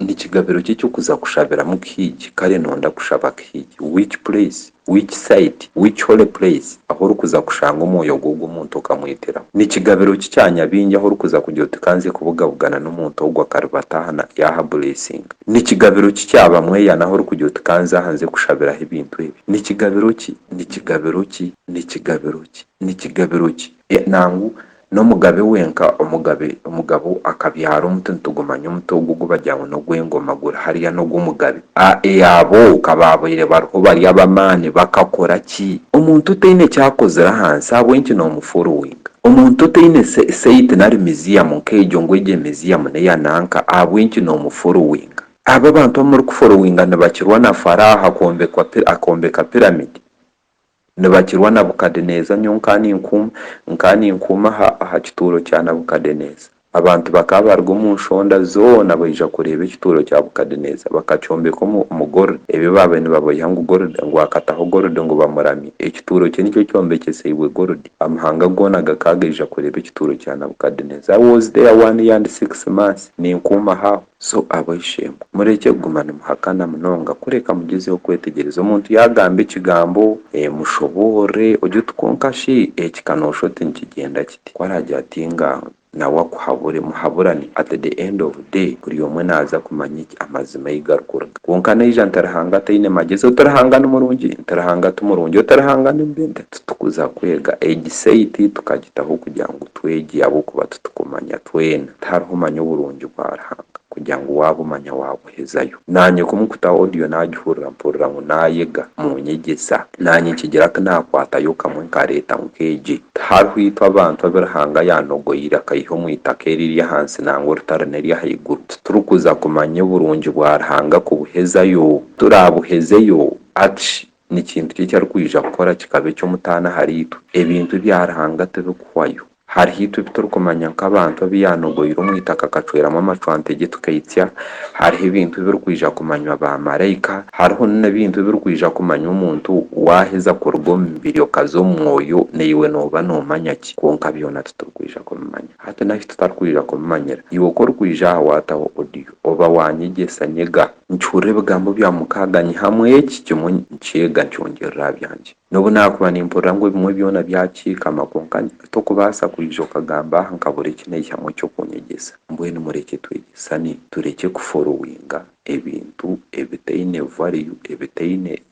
Ndi kigabiro ki eky'okuza kushabiramu kihiigi, kare nonda kushaba kihiigi? Which place? Which site? Which holy place? Ahu orikuza kushanga omwoyo gw'ogwo omuntu okamweteraho. Ni kigabiro ki kya nyabingi ahu orikuza kugira oti kanze kubugabugana n'omuntu ogwo akaribatahana yaahabureesinga? Ni kigabiro ki kya bamweyana ahu orikugira oti kanze aha nze kushabiraho ebintu ebi? Ni kigabiro ki? Ni kigabiro ki? Ni kigabiro ki? Ni kigabiro ki? Nangwa N'omugabe wenka omugabe omugabo akabyara omuti nitugumanya omuti ogu ogubagira ngu n'ogw'engoma guri hariya n'ogw'omugabe. A e Abo ka baabaire bariho bari ab'amaani bakakora ki? Omuntu taine eki akozire aha nsi ahabw'enki noomufollowinga? Omuntu taine site nari museum nk'egyo ngu egyo museum n'eya nanka ahabw'enki noomufollowinga? Abo abantu abu murikufollowinga nibakirwa na Faraho akoombeka pyramid? Nibakirwa Nabukadeneeza Nyowe nkaaninkuuma, nkaaninkuuma aha, aha kituuro kya Nabukadeneeza. Abantu bakaba baruga omu nshonda zoona baija kureeba ekituuro kya Bukadeneeza. Bakakyombeka omu, omu gold, ebyo baabaire nibaboiha ngu gold, ngu akataho gold ngu bamuramye. Ekituuro kye nikyo kyombekyeseibwe gold. Amahanga goona gakaba gaija kureeba ekituuro kya Nabukadeneeza. I was there one year and six months, ninkuuma aho aho. So abo ishe-emwe, murekye kuguma nimuhakana munonga, kureka mugyezeho kwetegyereza. Omuntu yaagamba ekigambo, mushoboorore, ogye oti, Kwonka shi eki ka noosha oti nikigyenda kiti? Ku araagira ati, Engaaho, nawe akuhabure, muhaburane. At the end of day, buri omwe naaza kumanya eki amazima ei garikuruga. Kwonka naija nti Ruhanga ataine magyezi, oti Ruhanga ni murungi? Nti Ruhanga ti murungi, oti Ruhanga ni mubi? Nitutukuza kwega egi saiti tukagitaho kugira ngu Twegye ahabw'okuba titukumanya twena. Tihariho omanya oburungi bwa Ruhanga kugira ngu waabumanya waabuhezayo. Naanye ku mukuta audio naagihurira mpurira ngu naayega. Munyegyesa. Naanye nkigira ku naakwatayo kamwe nkareeta nk'egye. Tihariho itwe abantu abu Ruhanga yaanogoire akaiha omu itaka eriri ahansi nangwa orutari n'eryahaiguru. Titurikuza kumanya oburungi bwa Ruhanga kubuhezayo. Turaabuhezeyo? Atshi! ni kintu ki eki arikwija kukora kikaba eky'omutaano ahariitwe? Ebintu bya Ruhanga tibikuhwayo. Hariho itwe ebi turikumanya nk'abantu abu yaanogoire omu itaka akacweramu amacwanta gye tukaitsya. Hariho ebintu ebirikwija kumanywa baamaraika. Hariho n'ebintu ebirikwija kumanywa omuntu waaheza kuruga omu mibiri okaza omu mwoyo. Naiwe nooba noomanya ki? Kwonka byona titurikwija kubimanya. Hati n'ahi tutarikwija kubimanyira? Iwe ku orikwija aha waataho audio. oba waanyegyesa nyega. Nikihurira ebigambo bya mukaaga nyihamu eki kimwe nkyega nkyongyerera aha byangye. N'obu naakuba nimpurira ngu ebimwe byona byakiikama kwonka hati okubaasa kwija okagamba aha nkabura eki naihamu eky'okunyegyesa. Mbwenu murekye twegyesane turekye kuforuwinga ebintu ebitaine value, ebitaine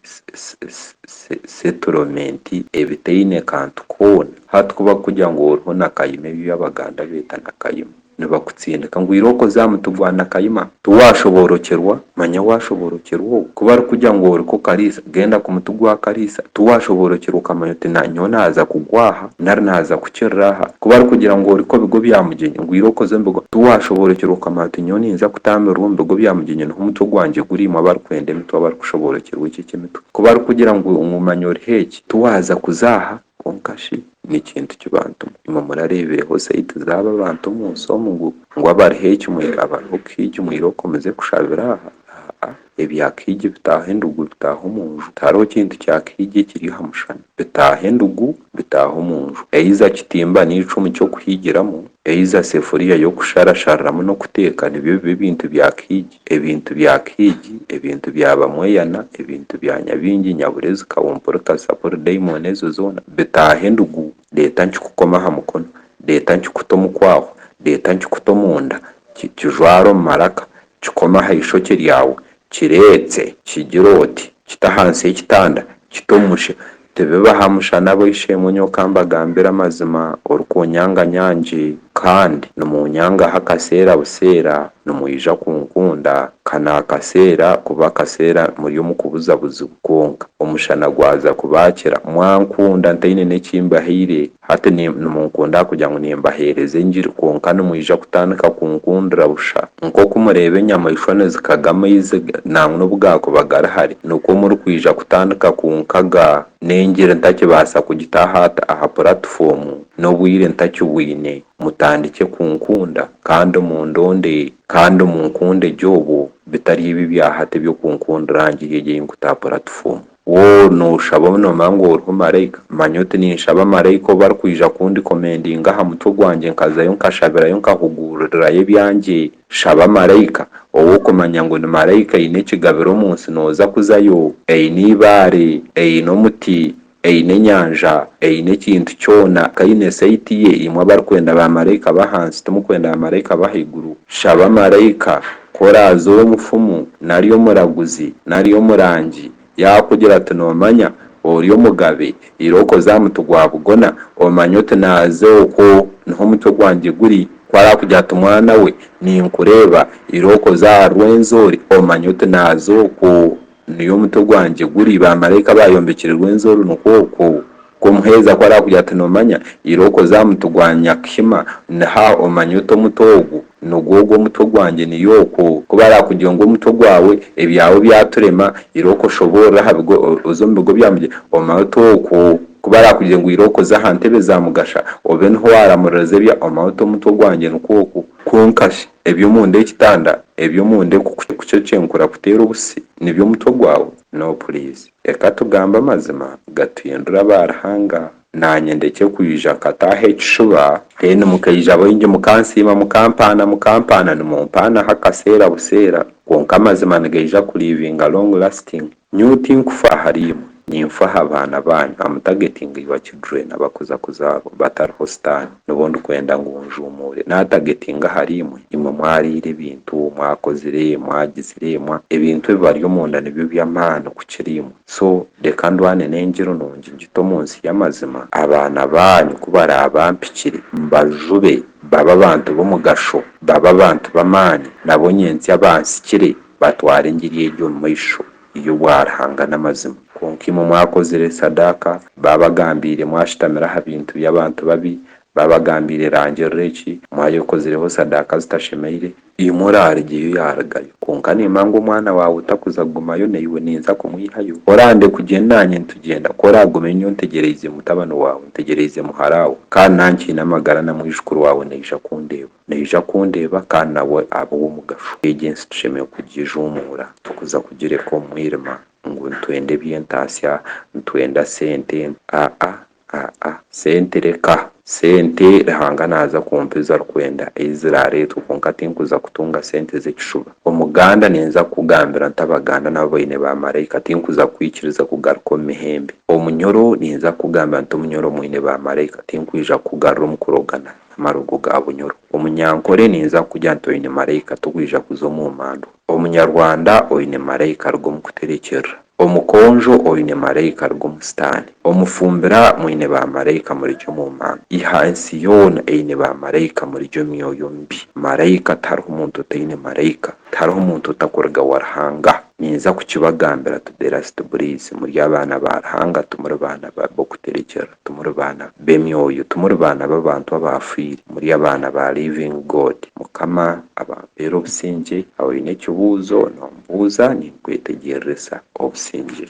settlement, ebitaine kantu koona. Hati ku bakukugira ngu oriho na kayima ebi ebi Abaganda beeta na kayima. nibakutsindika ngu ira okoze aha muti gwa Nakayima, tiwaashoboorokyerwa, manya waashoboorokyerwa ogwo ku barikugira ngu oriko Kariisa, genda ku muti gwa Kariisa, tiwaashoboorokyerwa okamanya oti nyowe naaza kugwa aha nari naaza kukirira aha, ku barikugira ngu oriko Bigo bya Mugyenyi, ngu ira okoze omu Bigo, tiwaashoboorokyerwa okamanya oti nyowe ninza kutaamirira omu Bigo bya Mugyenyi niho omutwe gwangye guri, imwe abarikwenda emitwe, abarikushoboorokyerwa eki eky'emitwe, ku barikugira ngu manya oriho eki, tiwaaza kuza aha, Kwonka shi ni kintu ki bantu imwe murareebireho zaidi zaabo abantu omu nsi omu ngu, ngu abariho eki mwine, abariho kuhi eki mwine oku muze kushabira aha? Aa-a. Ebya kuhi egi bitaaho endugu, bitaaho omu nju. Tihariho kintu kya kuhi egi ekiri aha mushana. Bitaaho endugu, bitaaho omu nju. Eiza kitimba nari icumu ky'okuhiigiramu, Eiza sefuriya y'okusharashariramu n'okuteeka nibyo biba ebintu bya Kihigi, ebintu bya Kihigi, ebintu bya Bamweyana, ebintu bya Nyabingi, Nyaburezi, Kawumpuri, Kasapuri, Daimoni ezo zoona bitaaha endugu reeta nkikukome aha mukono, reeta nkikute omu kwaahwa, reeta nkikute omunda, kijware omu maraka, Kikome aha ishokye ryawe, kireetse, kigire oti, Kita ahansi ekitanda, kita omu musha. Tibibe aha mushana ab'eishe-emwe nyoka mbagambire amazima, orikuunyanga nyangi, kandi nimuunyangaho akaseera buseera, nimwija kunkunda, ka naakaseera kuba akaseera muri omu kubuzabuzibwa. Kwonka, omushana gwaza kubaakira, mwankunda ntaine n'eki mbahaire, Hati nimunkunda ahakugira ngu nimbaheereza engiri, kwonka nimwija kutandika kunkundira busha. Nk'oku mureeba enyamaishwa nizikaga amaizi, nangwa n'obu gaakuba gari hare, nikwo murikwija kutandika kunkaga, n'engiri ntakibaasa kugitaaha aha puratifomu, n'obwire ntakibwine. Mutandikye kunkunda, kandi mundonde, kandi munkunde gye obwo, bitari ebi ebya hati eby'okunkundira ngiha egyo ei nkute aha puratifomu. Woowe nooshaba obu noomanya ngu oriho maraika? Manya oti ninshaba maraika obu arikwija kundikomendinga aha mutwe gwangye nkazayo nkashabirayo nkahuguururirayo ebyangye. Shaba maraika. Ou okumanya ngu ni maraika aine ekigabiro omu nsi nooza kuzayo. Aine eibaare. Aine omuti. Aine enyanja. Aine ekintu kyona. Ku aine saiti ye, imwe abarikwenda baamaraika b'ahansi, timukwenda baamaraika b'ahaiguru. Shaba maraika. Ku oraaza ou omufumu nari omuraguzi nari omurangi yaakugira ati, Noomanya, ori omugabe, irooka oze aha muti gwa bugona, omanye oti, Naaze okwo niho omutwe gwangye guri. Ku araakugira ati, Mwana we, ninkureeba, irooka oze aha rweenzo ori, omanye oti, Naaze okwo. Niyo omutwe gwangye guri, bamaraika baayombekire rwenzi orunukwo okwo. Ku omuheereza ku araakugira ati, Noomanya, ira okoze aha muti gwa nyakihima, niha omanya ota omuti ogwo? Nigwo ogwo omutwe gwangye, niyo okwo. Ku baraakugira ngu omutwe gwawe, ebyawe byaturema, ira okoshoboorora aha bigo, oze omu bigo bya mugyera, omanya ota okwo? Ku baraakugire ngu ira okoze aha ntebe za mugasha, obe niho waaramuririza ebya, omanya ota omutwe gwangye, nikwo okwo. Kwonka shi, Eby'omunda ekitanda eby'omunda ekukukyenkura kuteera obusi nibyo omutwe gwawe? No please reka tugambe amazima gatuhindure aba Ruhanga nanye ndekye kwija nkataaha ekishuba then mukaija baingi mukansiima mukampaana mukampaana nimumpaanaho akaseera buseera kwonka amazima nigaija ku livinga long lasting. Nyowe tinkufa ahariimwe, ninfa aha baana baanyu, am targeting your children abakuza kuzaarwa batariho sitaani, nibo ndikwenda ngu njuumuure, naatargetinga ahariimwe, imwe mwariire ebintu, mwakozire, mwagizire, mwa, ebintu ebibari omunda nibyo by'amaani kukira imwe, so reka ndwane n'engyero nungi ngite omu nsi y'amazima, abaana baanyu ku baraabampikire, mbajube, babe abantu b'omugasho, babe abantu b'amaani, nabo nyentsya bansikire. Batwara engiri egi omu maisho, Iyo bwa Ruhanga n'amazima. Kwonka imwe mwakozire sadaaka, baabagambiire, mwashutamira aha bintu by'abantu babi, baabagambiire, Rangirira eki, mwayekozireho sadaaka zitashemeire, imwe oraarugyeyo yaarugayo, kwonka nimba ngu omwana waawe otakuza kugumayo naiwe, ninza kumwihayo. Orande kugyenda naanye nitugyenda, ku oraagumeyo nyowe ntegyereize mutabani waawe, ntegyereize muharaawe, kandi nankyiine amagara na mwijukuru waawe naija kundeeba. Naija kundeeba kandi nawe abe ow'omugasho. Egyo ensi tushemereire kugijuumuura, turikuza kugireka omu mwirima ngu nitwenda eby'entaasya, nitwenda sente. Aa-a, aa-a, sente reka! Sente Ruhanga naaza kumpa ezi arikwenda, ei ziraareetwe, kwonka tinkuza kutunga sente z'ekishuba. Omuganda ninza kukugambira nti Abaganda nabo baine baamaraika, tinkuza kukwikiriza kugaruka omu mihembe. Omunyoro ninza kukugambira nti Omunyoro mwine baamaraika, tinkwija kukugarura omu kurogana. amarugo ga bunyoro. Omunyankore ninza kukugira nti oine maraika tigwija kuza omu mandwa. Omunyarwanda oine maraika aruga omu kuterekyerera. Omukonjo oine maraika aruga omu sitaani. Omufumbira mwine ba maraika murigye omu manda. Iha ensi yoona eine ba maraika murigye omu myoyo mibi. Maraika tihariho muntu otaine maraika. Tihariho omuntu otakuruga wa Ruhanga. Ninza kukibagambira today last breath muri abaana ba Ruhanga timuri baana b'okuterekyerera. Timuri baana b'emyoyo, timuri baana b'abantu abaafiire, muri abaana ba Living God. Mukama abampeere obusingye. Oine ekibuuzo, noombuuza, ninkwetegyeririsa obusingye.